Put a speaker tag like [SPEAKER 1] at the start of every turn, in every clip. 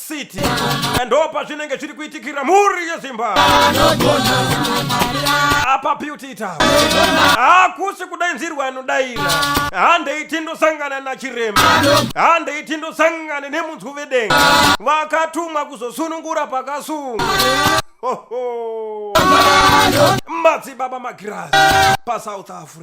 [SPEAKER 1] city ndopa zvinenge zviri kuitikira mhuri yezimba apa beauty town hakusi kudainzirwa anodaira handei tindosangana nachirema handei tindosangane nemunzwi vedenga vakatumwa kuzosunungura pakasunga Ho, ho. madzibaba magirazi pasouth africa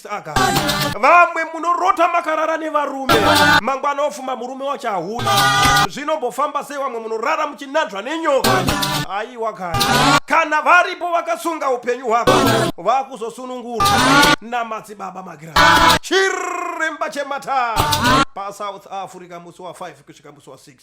[SPEAKER 1] saka vamwe munorota makarara nevarume mangwana ofuma murume wacho ahuna zvinombofamba sei vamwe munorara muchinanzva nenyoka aiwa kana kana varipo vakasunga upenyu hwako vakuzosunungurwa namadzibaba magira chiremba chemata pasouth africa musi wa 5 kusvika musi wa 6